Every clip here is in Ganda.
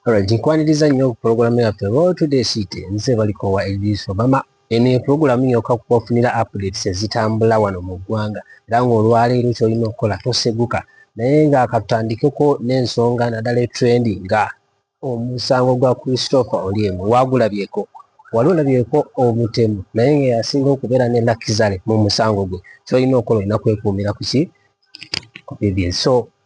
Alright, nkwaniriza nnyo pulogulaamu yaffe Road to the City nze baliko wa Idris Obama. Eno ye pulogulaamu yokka kubafunira updates ezitambula wano mu ggwanga era ng'olwaleero ky'olina okukola toseguka naye nga katutandikeko n'ensonga naddala etrendi nga omusango gwa Christopher Olyem waagulabyeko wali olabyeko omutemu naye nga yasinga okubeera ne Lakizale mu musango gwe ky'olina okukola olina kwekuumira ku ki ku BBS so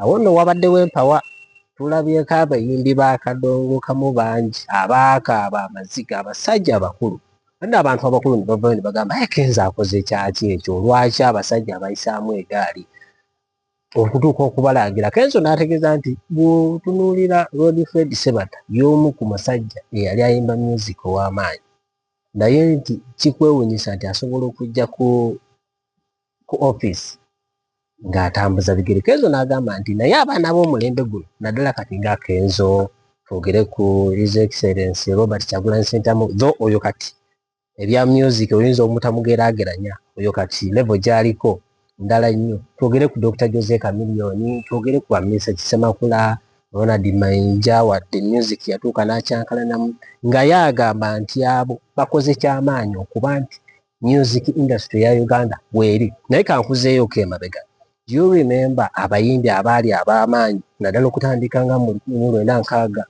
Awo nno wabaddewo empawa. Tulabyeko abayimbi ba kadongo kamu bangi abaakaaba amaziga, abasajja abakulu. Ate n'abantu abakulu ne bavaayo ne bagamba, Ayi Kenzo akoze kyaki ekyo? Lwaki abasajja abayisaamu egaali okutuuka okubalangira? Kenzo n'ategeeza nti, Bw'otunuulira Lord Fred Sebatta y'omu ku masajja eyali ayimba myuziki ow'amaanyi naye nti kikwewuunyisa nti asobola okujja ku ku ofiisi ng'atambuza bigere kenzo n'agamba nti naye abaana b'omulembe guno naddala kati nga kenzo twogere ku his excellence robert kyagulanyi sentamu tho oyo kati ebya music oyinza omutamugeraageranya oyo kati levo gyaliko ndala nnyo twogere ku dr jose kamiliyoni twogere ku bamisa kisemakula ronald mainja wadde music yatuuka n'akyankalanamu nga ye agamba nti abo bakoze kyamaanyi okuba nti music industry ya uganda weeri naye kankuzeeyo ko emabega you remember abayimbi abaali ab'amaanyi naddala okutandika nga mu lwenda nkaaga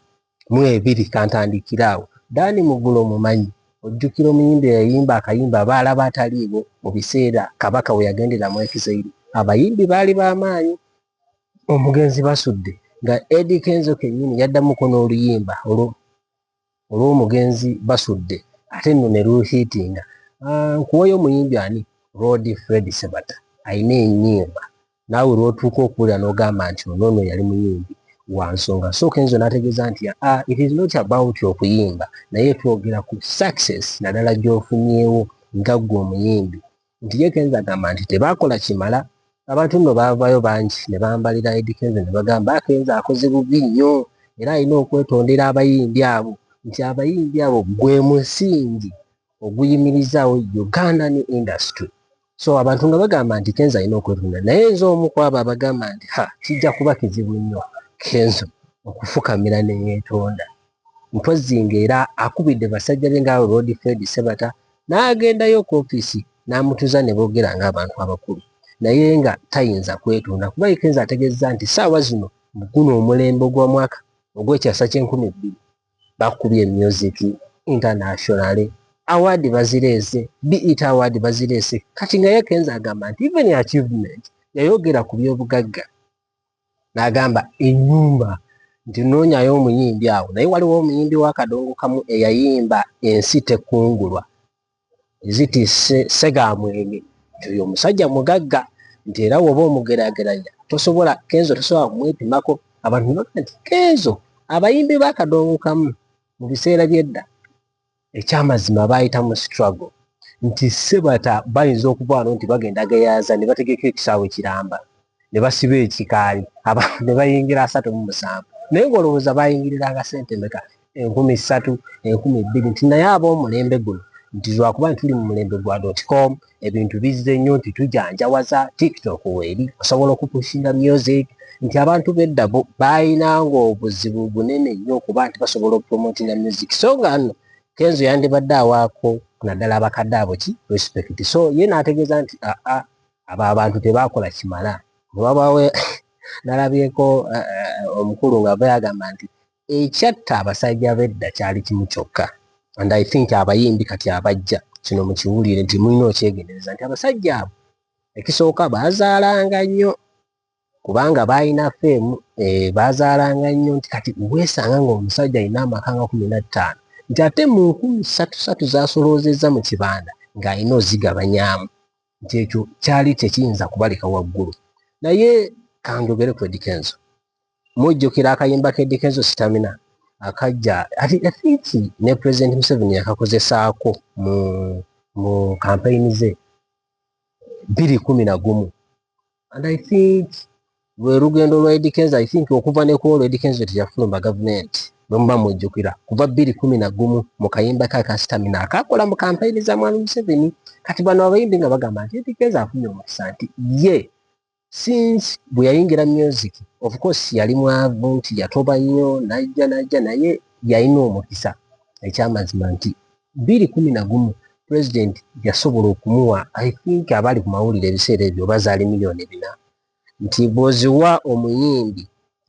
mu ebiri kantandikire awo daani mugulo mumanyi ojjukira omuyimbi eyayimba akayimba abaala baataliiwo mu biseera kabaka we yagendera mu ekizairi abayimbi baali b'amaanyi omugenzi basudde nga edi kenzo kennyini yaddamuko n'oluyimba olwo olwomugenzi basudde ate nno ne luhiitinga aah nkuweyo omuyimbi ani Lord Fred Ssebatta alina enyimba naawe lwotuuka okuwulira nogamba nti ono ono yali muyimbi wansonga so kenzo nategeza nti aa it is not about okuyimba naye twogera ku success nadala gyofunyewo nga gwe omuyimbi nti ye kenza agamba nti tebakola kimala abantu nno baavayo bangi ne bambalira edi kenza ne bagamba akenza akoze bubi nnyo era alina okwetondera abayimbi abo nti abayimbi abo gwe musingi oguyimirizaawo uganda ne industry so abantu nga bagamba nti kenza alina okwetondera naye nze omu kwabo abagamba nti ha kijja kuba kizibu nnyo kenzo okufukamira neyetonda Mpozzi ng'era akubidde basajja be ng'abo Loodi Fred Sebata n'agendayo ku ofiisi n'amutuuza ne boogera ng'abantu abakulu naye nga tayinza kwetonda kuba Ikenza ategeezza nti ssaawa zino mu guno omulembe ogw'omwaka ogw'ekyasa ky'enkumi bbiri bakubye music internationale awaadi bazireese beat awaadi bazireese kati nga ye Kenza agamba nti even achievement yayogera ku by'obugagga n'agamba ennyumba nti noonyayo omuyimbi awo naye waliwo omuyimbi w'akadongo kamu eyayimba ensi tekungulwa eziti segamwenge nti oyo omusajja mugagga nti era woba omugerageranya tosobola kenzo tosobola kumwepimako abantu nti kenzo abayimbi b'akadongo kamu mu biseera by'edda ekyamazima bayita mu struggle nti sebata bayinza okuvano nti bagenda geyaza ne bategeka ekisaawe kiramba ne basiba ekikaali abantu ne bayingira asatu mu musanvu naye ng'olowooza bayingiriranga sente meka enkumi ssatu enkumi bbiri nti naye ab'omulembe guno nti lwakuba nti tuli mu mulembe gwa dotcom ebintu bizze nnyo nti tujanjawaza tiktok weeri osobola okupushinga music nti abantu bedda balina ngaobuzibu bunene nnyo okuba nti basobola okupromotinga music so nga no kenzo yandibadde awaako naddala abakadde abo ki respect so ye naategeeza nti aa ah, ah, abo abantu tebaakola kimala newabawe nalabyeko eh, eh, omukulu nga bayagamba nti ekyatta abasajja bedda kyali kimu kyokka and i think abayimbi kati abajja kino mukiwulire nti mulina okyegendereza nti abasajja abo ekisooka baazaalanga nnyo kubanga baalina feemu eh, baazaalanga nnyo nti kati weesanga ngaomusajja alina amaka nga kumi na ttaano nti ate mu nkumi satu satu zaasoloozezza mu kibanda ng'alina ozigabanyaamu nti ekyo kyali tekiyinza kubaleka waggulu naye kanjogere kwedikenzo mujjukira akayimba ke dikezo sitamina akajja ati i think ne president museveni yakakozesaako mu mu kampeyini ze biri kumi na gumu and i think lwe lugendo lwa edikenzo i think okuva ne kuolwo edikenzo teyafulumba gavumenti bwemuba mujjukira kuva biri kumi na gumu mu kayimba ke aka sitamina akakola mu kampeyini za mwami museveni kati bano abayimbi nga bagamba nti edikenzo afunye omukisa nti ye yeah. Since bwe yayingira music of course yali mwavu nti yatoba nnyo najja najja naye yalina omukisa ekyamazima nti bbiri kumi na gumu president yasobola okumuwa I think abaali ku mawulire ebiseera ebyo oba zaali million bina nti bw'oziwa omuyimbi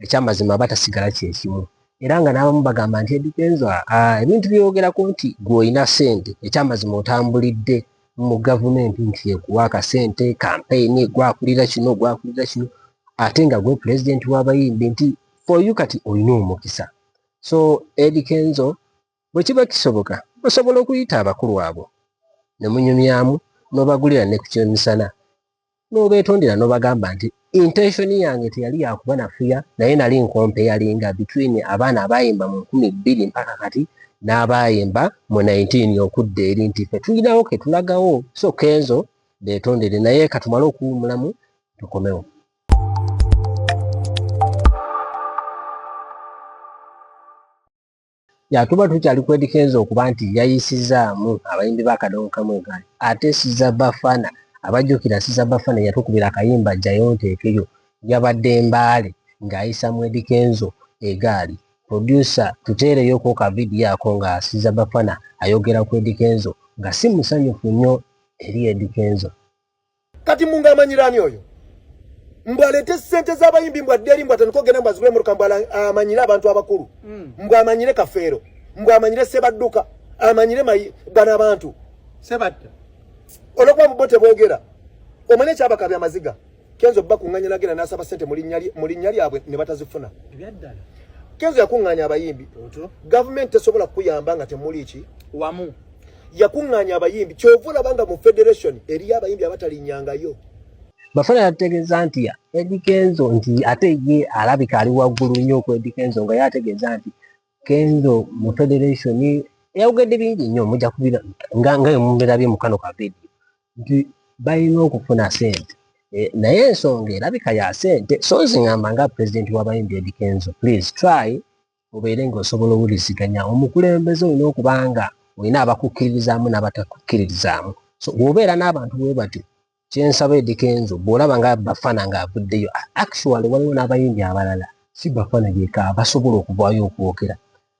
ekyamazima aba tasigala kyekimu era nga n'abamu bagamba nti edikenzo ebintu byewogerako nti gwe olina sente ekyamazima otambulidde mu gavumenti nti ekuwa akasente kampeyini gwakulira kino gwakulira kino ate nga gwe pulezidenti w'abayimbi nti foyu kati olina omukisa so edikenzo Bwe kiba kisoboka, osobola okuyita abakulu abo ne munyumyamu n'obagulira ne ku ky'emisana n'obeetondera n'obagamba nti, Intensoni yange teyali ya kubanafuya naye nali nkompeyalinga between abaana abaayimba mu nkumi bbiri mpaka kati n'abaayimba mu nineteen okudda eri nti ffe tulinawo ke tulagawo so Kenzo beetondere naye ka tumale okuwummulamu tukomewo. ya tuba tukyali kwedikenza okuba nti yayisizaamu abayimbi ba kadongo kamu egaali ate siza bafana abajjukira siza bafana yatukubira akayimba jayo nteekeyo yabadde mbaale ng'ayisa mu edikenzo egaali produsa tuteereyoko ka vidiyo ako nga siza bafana ayogera ku edikenzo nga si musanyufu nnyo eri edikenzo kati munga amanyirani oyo mbwa lete sente za bayimbi mbwa deli mbwa taniko gena mbwa zubule muruka mbwa amanyire abantu abakuru mm. mbwa amanyire kafero mbwa amanyire seba duka amanyire mayi gana abantu seba duka olokwa mbote bogera omane chaba kabya maziga kenzo bba kunganya nagena nasaba sente muli nyali muli nyali abwe ne batazifuna ebyadala kenzo yakunganya abayimbi government tesobola kuyamba nga temuli ki wamu yakuŋŋaanya abayimbi kyova olaba nga mu federation eriyo abayimbi abatalinyangayo bafana yategeeza nti edikenzo nti ate ye alabika ali waggulu nnyo ku edikenzo nga ye ategeeza nti kenzo mu federation yawugedde bingi nnyo mujja kubira nga nga emumbirabye mu kano kavidi nti balina okufuna sente e, naye ensonga erabika ya sente so nzingamba nga pulezidenti w'abayimbi edikenzo please try obeere nga osobola owuliziganya omukulembeze olina okuba nga olina abakukkiririzaamu n'abatakukkiririzaamu so bwobeera n'abantu bwe batyo kyensaba edikenzo bwolaba nga bafana ngaavuddeyo actually waliwo n'abayimbi abalala si bafana yeka basobola okuvaayo okwogera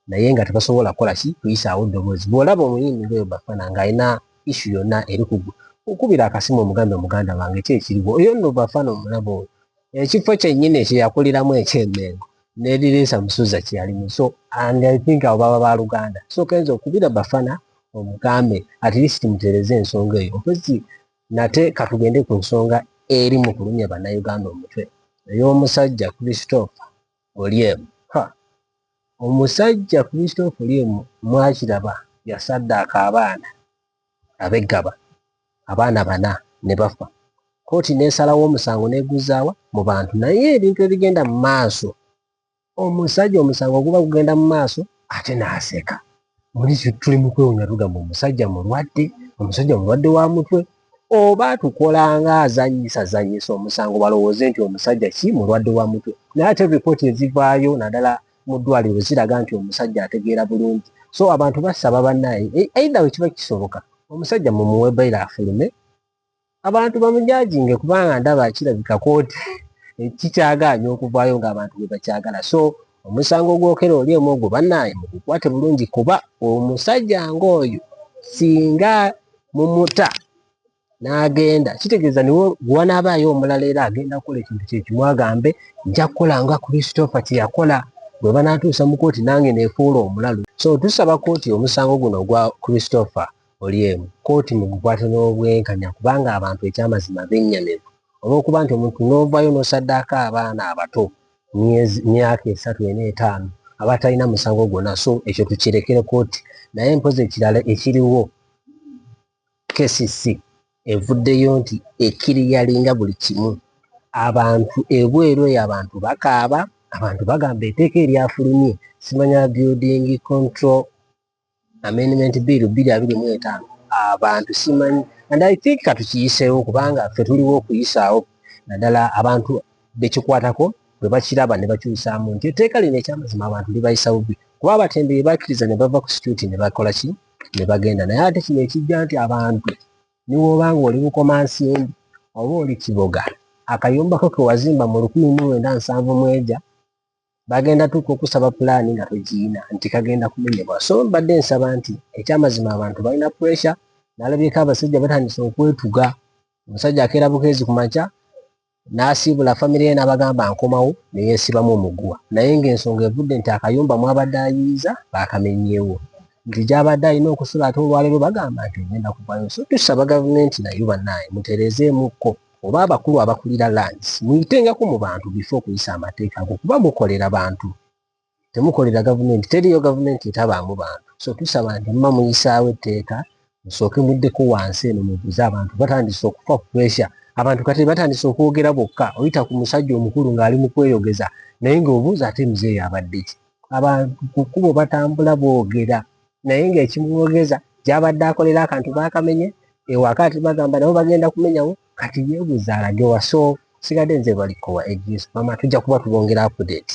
naye nga tebasobola kukola ki kuyisaawo ddoboozi bwolaba omuyimbi ngaoyo bafana ng'alina issu yonna eri kugwe okubira akasimu omugambe muganda wange ki ekiriwo oyo nno bafana omulaba oyo ekifo kyennyini kyeyakuliramu ekyemengo nerireesa musuza kyeyalimu so and i think abo baba baluganda so kenza okubira bafana omugambe at least mutereze ensonga eyo mpozi nate katugende ku nsonga eri mu kulumya bannayuganda omutwe ey'omusajja christopher oliemu omusajja christopher oliemu mwakiraba yasaddaaka abaana abeggaba abaana bana ne bafa kkooti n'esalawo omusango n'eguzaawa mu bantu naye ebintu ebigenda mu maaso omusajja omusango guba gugenda mu maaso ate n'aseka muli tuli mu kwewunya tugamba omusajja mulwadde omusajja mulwadde wa mutwe oba tukolanga azanyisa zanyisa omusango balowooze nti omusajja ki mulwadde wa mutwe naye ate ripooti ezivaayo naddala mu ddwaliro ziraga nti omusajja ategeera bulungi so abantu basaba banaye e, either wekiba kisoboka omusajja mumuwe baila afulume abantu bamujajinge kubanga ndaba kirabika kooti kikyagaanya okuvaayo nga abantu bebakyagala so omusango ogwokera oli omu ogwo banaye mugukwate bulungi kuba omusajja ngaoyo singa mumuta n'agenda kitegeeza niwo wanaabaayo omulala era agenda kukola ekintu kyekimu agambe nja kukola nga kristofa kyeyakola bwe banaatuusa mu kooti nange neefuula omulalu so tusaba kooti omusango guno ogwa kristofa olyemu kooti mu gukwate n'obwenkanya kubanga abantu ekyamazima bennyamivu olw'okuba nti omuntu n'ovaayo n'osaddaako abaana abato myezi myaka esatu ena etaano abatalina musango gwonna so ekyo tukirekere kooti naye mpozi ekirala ekiriwo KCC evuddeyo nti ekiriyalinga buli kimu abantu ebweru eyo abantu bakaaba abantu bagamba eteeka eryafulumye simanya building control amendment bill bbiri abiri mu etaano abantu simanyi and i think katukiyiseewo kubanga ffe tuliwo okuyisaawo naddala abantu bekikwatako bwe bakiraba ne bakyusaamu nti etteeka lino ekyamazima abantu libayisa bubbi kuba abatembeyi bakkiriza ne bava ku situuti ne bakola ki ne bagenda naye ate kino ekijja nti abantu niwooba nga oli bukomansimbi oba oli kiboga akayombako kewazimba mu lukumi mu lwenda nsanvu mweja bagenda tuuka okusaba pulaani nga togiina nti kagenda kumenyebwa so mbadde nsaba nti ekyamazima abantu balina puresha nalabyeko abasajja batandise okwetuga omusajja akeera bukeezi ku makya n'asiibula famire ye n'abagamba nkomawo ne yeesibamu omuguwa naye ng'ensonga evudde nti akayumba mw'abadde ayiiza baakamenyeewo nti gy'abadde alina okusula ate olwaleero bagamba nti ogenda kuvayo so tusaba gavumenti nayo bannaaye mutereezeemukko oba abakulu abakulira lands muyitengako mu bantu bifo okuyisa amateeka ago kuba mukolera bantu temukolera gavumenti teriyo gavumenti etabaamu bantu so tusaba nti mma muyisaawo etteeka musooke muddeko wansi eno mubuze abantu batandise okufa puresha abantu kati batandise okwogera bokka oyita ku musajja omukulu ng'ali mu kweyogeza naye ng'obuuza ate muzeeyo abadde ki abantu ku kkubo batambula boogera naye ng'ekimwogeza gyabadde akolera akantu baakamenye ewaka ati bagamba nabo bagenda kumenyawo kati yeebuuza alage waso sigadde nze balikowa egispama tujja kuba tubongera update